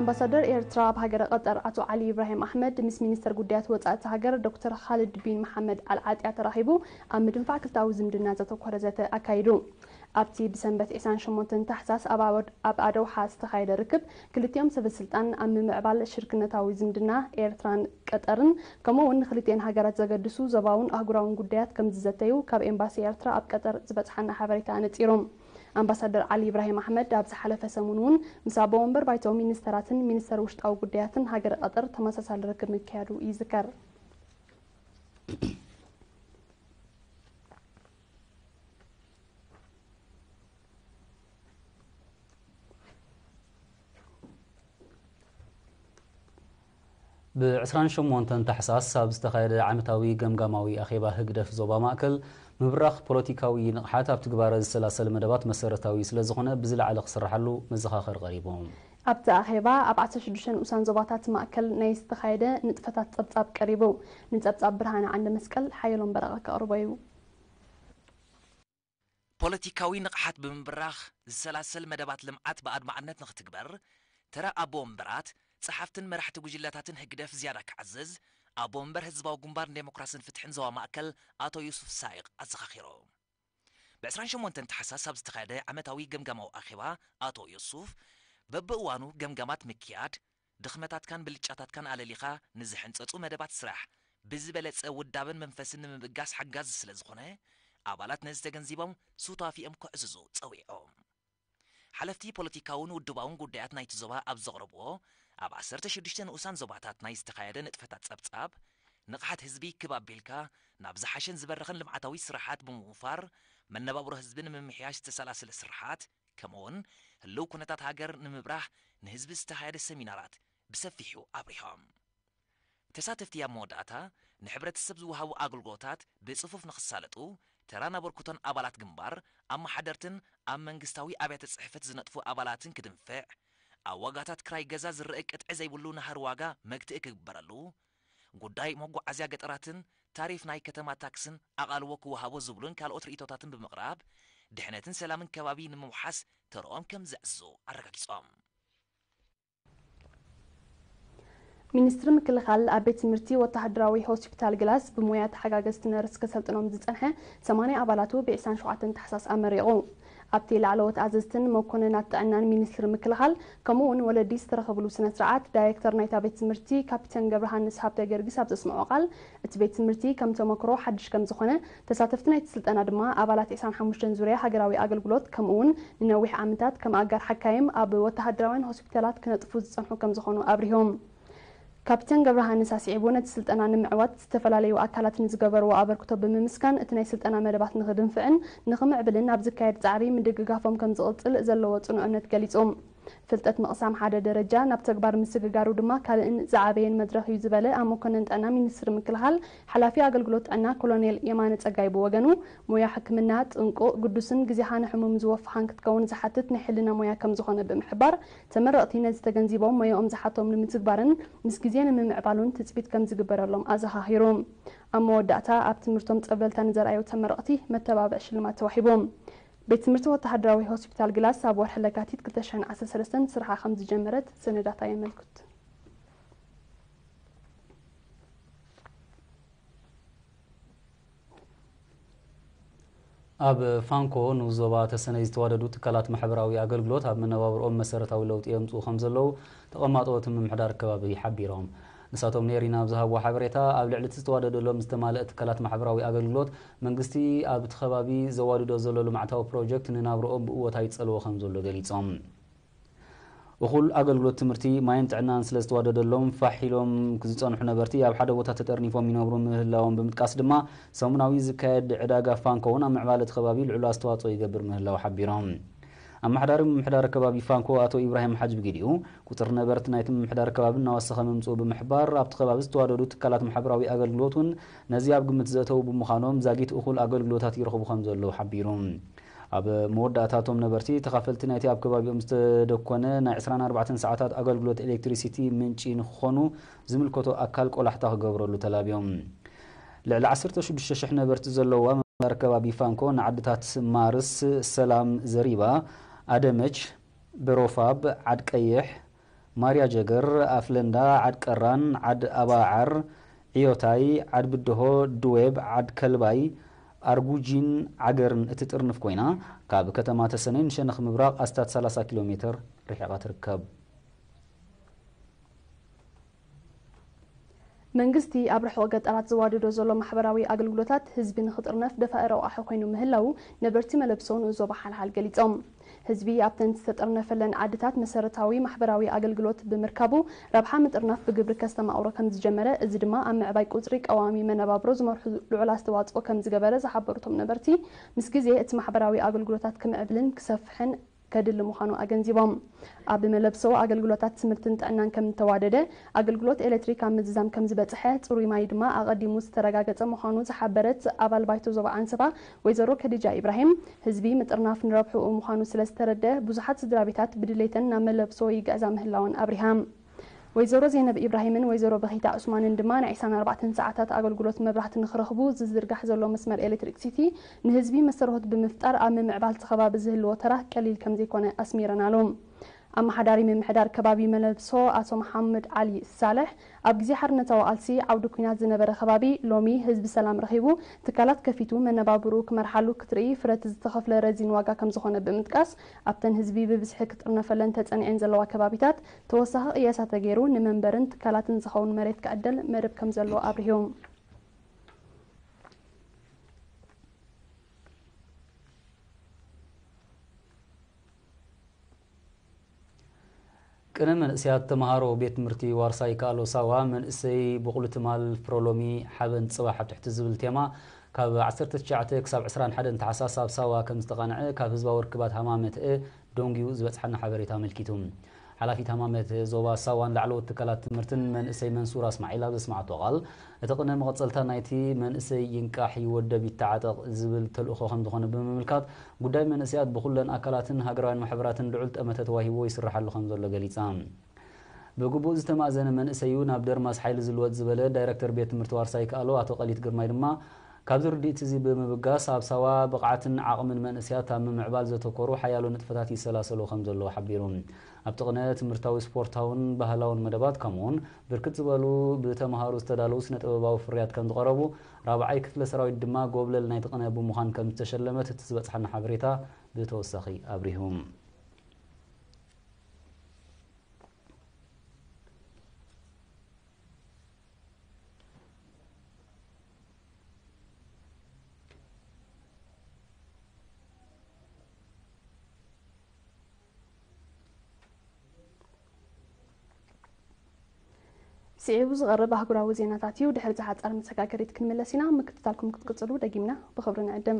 ኣምባሳደር ኤርትራ ኣብ ሃገረ ቐጠር ኣቶ ዓሊ ኢብራሂም ኣሕመድ ምስ ሚኒስተር ጉዳያት ወጻኢ እታ ሃገር ዶክተር ኻልድ ቢን መሓመድ ኣል ዓጥያ ተራኺቡ ኣብ ምድንፋዕ ክልተኣዊ ዝምድና ዘተኮረ ዘተ ኣካይዱ። ኣብቲ ብሰንበት ዒስራን ሸሞንተን ታሕሳስ ኣብ ኣዶውሓ ዝተኻየደ ርክብ ክልቲኦም ሰበስልጣን ኣብ ምምዕባል ሽርክነታዊ ዝምድና ኤርትራን ቀጠርን ከምኡ'ውን ንኽልቲኤን ሃገራት ዘገድሱ ዞባውን ኣህጉራውን ጉዳያት ከምዝዘተዩ ካብ ኤምባሲ ኤርትራ ኣብ ቀጠር ዝበጽሓና ሓበሬታ ኣነጺሩ። ኣምባሳደር ዓሊ ኢብራሂም ኣሕመድ ኣብ ዝሓለፈ ሰሙን'ውን ምስ ኣቦ መንበር ባይቶ ሚኒስተራትን ሚኒስተር ውሽጣዊ ጉዳያትን ሃገረ ቐጠር ተመሳሳሊ ርክብ ምክያዱ ይዝከር። ብ ዕስራን ሸሞንተን ታሕሳስ ኣብ ዝተኻየደ ዓመታዊ ገምጋማዊ ኣኼባ ህግደፍ ዞባ ማእከል፣ ምብራኽ ፖለቲካዊ ንቕሓት ኣብ ትግባረ ዝሰላሰል መደባት መሰረታዊ ስለዝኾነ ብዝለዓለ ክስርሓሉ መዘኻኸሪ ቀሪቡ። ኣብቲ ኣኼባ ኣብ ዓሰርተ ሽዱሽተ ንኡሳን ዞባታት ማእከል ናይ ዝተኻየደ ንጥፈታት ጸብጻብ ቀሪቡ። ንጸብጻብ ብርሃነ ዓንደመስቀል ሓየሎም በረቐ ከቕርቦ'ዩ። ፖለቲካዊ ንቕሓት ብምብራኽ ዝሰላሰል መደባት ልምዓት ብኣድማዕነት ንኽትግበር፣ ተራ ኣቦ ወንበራት፣ ጸሓፍትን መራሕቲ ጉጅለታትን ህግደፍ ዝያዳ ክዓዝዝ፣ ኣቦ ወንበር ህዝባዊ ግንባር ንደሞክራስን ፍትሕን ዞባ ማእከል ኣቶ ዩሱፍ ሳይቕ ኣዘኻኺሮም። ብ ዕስራን ሸሞንተን ታሕሳስ ኣብ ዝተኻየደ ዓመታዊ ገምጋማዊ ኣኼባ ኣቶ ዩሱፍ፣ በብእዋኑ ገምጋማት ምክያድ፣ ድኽመታትካን ብልጫታትካን ኣለሊኻ ንዝሕንጸጹ መደባት ስራሕ ብዝበለጸ ውዳበን መንፈስን ንምብጋስ ሓጋዚ ስለ ዝኾነ፣ ኣባላት ነዚ ተገንዚቦም ሱታፊኦም ከዕዝዙ ጸዊዖም። ሓለፍቲ ፖለቲካውን ውድባውን ጉዳያት ናይቲ ዞባ ኣብ ዘቕረብዎ ኣብ ዓሰርተ ሽዱሽተ ንኡሳን ዞባታት ናይ ዝተኻየደ ንጥፈታት ጸብጻብ፣ ንቕሓት ህዝቢ ክብ ኣቢልካ ናብ ዝሓሸን ዝበረኸን ልምዓታዊ ስራሓት ብምውፋር መነባብሮ ህዝቢ ንምምሕያሽ ዝተሰላሰለ ስርሓት ከምኡ'ውን ህልው ኩነታት ሃገር ንምብራህ ንህዝቢ ዝተኻየደ ሰሚናራት ብሰፊሑ ኣብሪሆም። ተሳተፍቲ ኣብ መወዳእታ ንሕብረተሰብ ዝወሃቡ ኣገልግሎታት ብጽፉፍ ንኽሳለጡ ተራን ኣበርክቶን ኣባላት ግንባር፣ ኣመሓደርትን ኣብ መንግስታዊ ኣብያተ ጽሕፈት ዝነጥፉ ኣባላትን ክድንፍዕ፣ ኣብ ዋጋታት ክራይ ገዛ ዝረእ ቅጥዒ ዘይብሉ ናህሪ ዋጋ መግትኢ ክግበረሉ፣ ጉዳይ መጓዓዝያ ገጠራትን ታሪፍ ናይ ከተማ ታክስን ኣቓልቦ ክወሃቦ ዝብሉን ካልኦት ርኢቶታትን ብምቕራብ ድሕነትን ሰላምን ከባቢ ንምውሓስ ተርኦም ከምዘዕዝዙ ኣረጋጊፆም። ሚኒስትሪ ምክልኻል ኣብ ቤት ትምህርቲ ወተሃደራዊ ሆስፒታል ግላስ ብሞያ ተሓጋገዝቲ ነርስ ከሰልጥኖም ዝፀንሐ ሰማንያ ኣባላቱ ብ ዕስራን ሸውዓተን ታሕሳስ ኣመሪቑ። ኣብቲ ላዕለዎት ኣዘዝትን መኮነናት ጥዕናን ሚኒስትሪ ምክልኻል ከምኡ እውን ወለዲ ዝተረኸብሉ ስነ ስርዓት ዳይሬክተር ናይታ ቤት ትምህርቲ ካፒተን ገብረሃንስ ሃብተገርጊስ ኣብ ዘስምዖ ቃል እቲ ቤት ትምህርቲ ከም ተሞክሮ ሓድሽ ከም ዝኾነ ተሳተፍቲ ናይቲ ስልጠና ድማ ኣባላት ዕስራን ሓሙሽተን ዙርያ ሃገራዊ ኣገልግሎት ከምኡ እውን ንነዊሕ ዓመታት ከም ኣጋር ሓካይም ኣብ ወተሃደራውያን ሆስፒታላት ክነጥፉ ዝፀንሑ ከም ዝኾኑ ኣብሪሆም። ካፕተን ገብረሃንስ ኣስዒቡ ነቲ ስልጠና ንምዕዋት ዝተፈላለዩ ኣካላት ንዝገበርዎ ኣበርክቶ ብምምስጋን እቲ ናይ ስልጠና መደባት ንኽድንፍዕን ንኽምዕብልን ኣብ ዝካየድ ፃዕሪ ምድግጋፎም ከምዝቕፅል ዘለዎ ፅኑዕ እምነት ገሊፁ። ፍልጠት ምቕሳም ሓደ ደረጃ ናብ ተግባር ምስግጋሩ ድማ ካልእን ዝዓበየን መድረኽ እዩ ዝበለ ኣብ መኮነን ጥዕና ሚኒስትሪ ምክልኻል ሓላፊ ኣገልግሎት ጥዕና ኮሎኔል የማነ ፀጋይ ብወገኑ ሞያ ሕክምና ጥንቁቕ፣ ግዱስን ግዜኻ ንሕሙም ዝወፍኻን ክትከውን ዝሓትት ናይ ሕልና ሞያ ከምዝኾነ ብምሕባር ተመረቕቲ ነዚ ተገንዚቦም ሞያኦም ዝሓቶም ንምትግባርን ምስ ግዜ ንምምዕባሉን ትጽቢት ከም ዝግበረሎም ኣዘኻኺሩ። ኣብ መወዳእታ ኣብ ትምህርቶም ጸብለልታ ንዘርኣዩ ተመረቕቲ መተባብዒ ሽልማት ተዋሂቡ። ቤት ትምህርቲ ወተሃደራዊ ሆስፒታል ግላስ ኣብ ወርሒ ለካቲት ክልተ ሽሕን ዓሰርተ ሰለስተን ስርሓ ከም ዝጀመረት ሰነዳታ የመልክቱ። ኣብ ፋንኮ ንኡስ ዞባ ተሰነይ ዝተዋደዱ ትካላት ማሕበራዊ ኣገልግሎት ኣብ መነባብርኦም መሰረታዊ ለውጢ የምፅኡ ከምዘለዉ ተቐማጦ እቲ ምምሕዳር ከባቢ ሓቢሮም። ንሳቶም ንኤሪና ኣብ ዝሃብዎ ሓበሬታ፣ ኣብ ልዕሊ እቲ ዝተዋደደሎም ዝተማልእ ትካላት ማሕበራዊ ኣገልግሎት፣ መንግስቲ ኣብቲ ከባቢ ዘዋድዶ ዘሎ ልምዓታዊ ፕሮጀክት ንናብርኦም ብእወታ ይፀልዎ ከምዘሎ ገሊፆም። እኹል ኣገልግሎት ትምህርቲ፣ ማይን ጥዕናን ስለ ዝተዋደደሎም ፋሕ ኢሎም ዝጸንሑ ነበርቲ ኣብ ሓደ ቦታ ተጠርኒፎም ይነብሩ ምህላዎም ብምጥቃስ ድማ ሰሙናዊ ዝካየድ ዕዳጋ ፋንኮ'ውን ኣብ ምዕባለ እቲ ከባቢ ልዑል ኣስተዋጽኦ ይገብር ምህላዉ ሓቢሮም። ኣመሓዳሪ ምምሕዳር ከባቢ ፋንኮ ኣቶ ኢብራሂም ሓጅ ብጊዲኡ፣ ቁጽሪ ነበርቲ ናይቲ ምምሕዳር ከባቢ እናወሰኸ ምምጽኡ ብምሕባር፣ ኣብቲ ከባቢ ዝተዋደዱ ትካላት ማሕበራዊ ኣገልግሎት'ውን ነዚ ኣብ ግምት ዘእተዉ ብምዃኖም ዛጊት እኹል ኣገልግሎታት ይረኽቡ ከም ዘለዉ ሓቢሩ። ኣብ መወዳእታ እቶም ነበርቲ ተኻፈልቲ ናይቲ ኣብ ከባቢኦም ዝተደኮነ ናይ ዕስራን ኣርባዕተን ሰዓታት ኣገልግሎት ኤሌክትሪሲቲ ምንጪ ንክኾኑ ዝምልከቶ ኣካል ቆላሕታ ክገብረሉ ተላብዮም። ልዕሊ ዓሰርተ ሽዱሽተ ሽሕ ነበርቲ ዘለዉዋ ምምሕዳር ከባቢ ፋንኮ ንዓድታት ማርስ፣ ሰላም፣ ዘሪባ፣ ኣደመች፣ በሮፋብ፣ ዓድቀይሕ፣ ማርያ ጀገር፣ ኣፍለንዳ፣ ዓድ ቀራን፣ ዓድ ኣባዓር፣ ዕዮታይ፣ ዓድ ብደሆ፣ ድዌብ፣ ዓድ ከልባይ፣ ኣርጉጂን ዓገርን እትጥርንፍ ኮይና፣ ካብ ከተማ ተሰነይ ንሸነኽ ምብራቕ ኣስታት ሰላሳ ኪሎ ሜተር ርሒቓ ትርከብ። መንግስቲ ኣብ ርሑቕ ገጠራት ዘዋድዶ ዘሎ ማሕበራዊ ኣገልግሎታት ህዝቢ ንኽጥርነፍ ደፋኢ ረቋሒ ኮይኑ ምህላዉ ነበርቲ መለብሶ ንኡዞባ ሓልሓል ገሊፆም። ህዝቢ ኣብተን ዝተጠርነፈለን ዓድታት መሰረታዊ ማሕበራዊ ኣገልግሎት ብምርካቡ ረብሓ ምጥርናፍ ብግብሪ ከስተማቕሮ ከምዝጀመረ እዚ ድማ ኣብ ምዕባይ ቁፅሪ ቀዋሚ መነባብሮ ዝመርሑ ልዑል ኣስተዋፅኦ ከምዝገበረ ዝሓበሩቶም ነበርቲ ምስ ግዜ እቲ ማሕበራዊ ኣገልግሎታት ክምዕብልን ክሰፍሕን ከድሊ ምዃኑ ኣገንዚቦም። ኣብ መለብሶ ኣገልግሎታት ትምህርትን ጥዕናን ከም እተዋደደ፣ ኣገልግሎት ኤሌክትሪክ ኣብ ምዝዛም ከም ዝበጽሐ፣ ጽሩይ ማይ ድማ ኣቐዲሙ ዝተረጋገጸ ምዃኑ ዝሓበረት ኣባል ባይቶ ዞባ ዓንሰባ ወይዘሮ ከዲጃ ኢብራሂም፣ ህዝቢ ምጥርናፍ ንረብሕኡ ምዃኑ ስለ ዝተረድኣ ብዙሓት ስድራቤታት ብድሌተን ናብ መለብሶ ይግዕዛ ምህላወን ኣብሪሃ። ወይዘሮ ዜነብ ኢብራሂምን ወይዘሮ በኺታ ዑስማንን ድማ ናይ ዕስራን ኣርባዕተን ሰዓታት ኣገልግሎት መብራህቲ ንክረኽቡ ዝዝርጋሕ ዘሎ መስመር ኤሌክትሪክ ሲቲ ንህዝቢ መሰረሆት ብምፍጣር ኣብ ምምዕባል እቲ ከባቢ ዝህልዎ ተራ ቀሊል ከምዘይኮነ ኣስሚረናሉ። ኣመሓዳሪ ምምሕዳር ከባቢ መለብሶ ኣቶ መሓመድ ዓሊ ሳልሕ ኣብ ግዜ ሓርነታዊ ቃልሲ ዓውዲ ኲናት ዝነበረ ከባቢ ሎሚ ህዝቢ ሰላም ረኺቡ ትካላት ከፊቱ መነባብርኡ ክመርሓሉ ክትርኢ ፍረቲ ዝተኸፍለ ረዚን ዋጋ ከምዝኾነ ብምጥቃስ ኣብተን ህዝቢ ብብዝሒ ክጥርነፈለን ተፀኒዐን ዘለዋ ከባቢታት ተወሳኺ ቅየሳ ተገይሩ ንመንበርን ትካላትን ዝኸውን መሬት ክዕደል መደብ ከምዘሎ ኣብሪሁ። ቅነ መንእሰያት ተመሃሮ ቤት ትምህርቲ ዋርሳ ይከኣሎ ሳዋ መንእሰይ ቦቕሊ ትማል ፍረ ሎሚ ሓበን ጽባሕ ኣብ ትሕቲ ዝብል ቴማ ካብ ዓሰርተ ትሽዓተ ክሳብ ዕስራን ሓደን ታሕሳስ ኣብ ሳዋ ከም ዝተቓንዐ ካብ ህዝባዊ ርክባት ሃማመተኤ ደንጉዩ ዝበጽሓና ሓበሬታ ኣመልኪቱ። ሓላፊት ሃማመት ዞባ ሳዋን ላዕለዎት ትካላት ትምህርትን መንእሰይ መንሱር ኣስማዒል ኣብ ዘስመዓቶ ቃል፣ እቲ ቅነ መቐጸልታ ናይቲ መንእሰይ ይንቃሕ፣ ይወደብ፣ ይተዓጠቕ ዝብል ተልእኾ ከምዝኾነ ብምምልካት፣ ጉዳይ መንእሰያት ብኹለን ኣካላትን ሃገራውያን ማሕበራትን ልዑል ጠመተ ተዋሂብዎ ይስርሓሉ ከምዘሎ ገሊጻ። ብግቡእ ዝተማእዘነ መንእሰይ'ዩ ናብ ደርማስ ሓይሊ ዝልወጥ ዝበለ ዳይረክተር ቤት ትምህርቲ ዋርሳይ ይከኣሎ ኣቶ ቀሊት ግርማይ ድማ ካብዚ ርድኢት'ዚ ብምብጋስ ኣብ ሳዋ ብቕዓትን ዓቕምን መንእሰያት ኣብ ምምዕባል ዘተኮሩ ሓያሎ ንጥፈታት ይሰላሰሉ ከምዘለዉ ሓቢሩ። ኣብቲ ቅነ ትምህርታዊ ስፖርታውን ባህላውን መደባት ከምኡ'ውን ብርክት ዝበሉ ብተምሃሮ ዝተዳለዉ ስነ-ጥበባዊ ፍርያት ከምዝቐረቡ ራብዓይ ክፍለ ሰራዊት ድማ ጎብለል ናይቲ ቅነ ብምዃን ከምዝተሸለመት እቲ ዝበጽሓና ሓበሬታ ብተወሳኺ ኣብሪሁ። ስዒቡ ዝቐርብ ኣህጉራዊ ዜናታት እዩ። ድሕሪ ዝሓፀረ መሰጋገሪት ክንምለስ ኢና። ምክትታልኩም ክትቅፅሉ ደጊምና ብኽብሪ ንዕድም።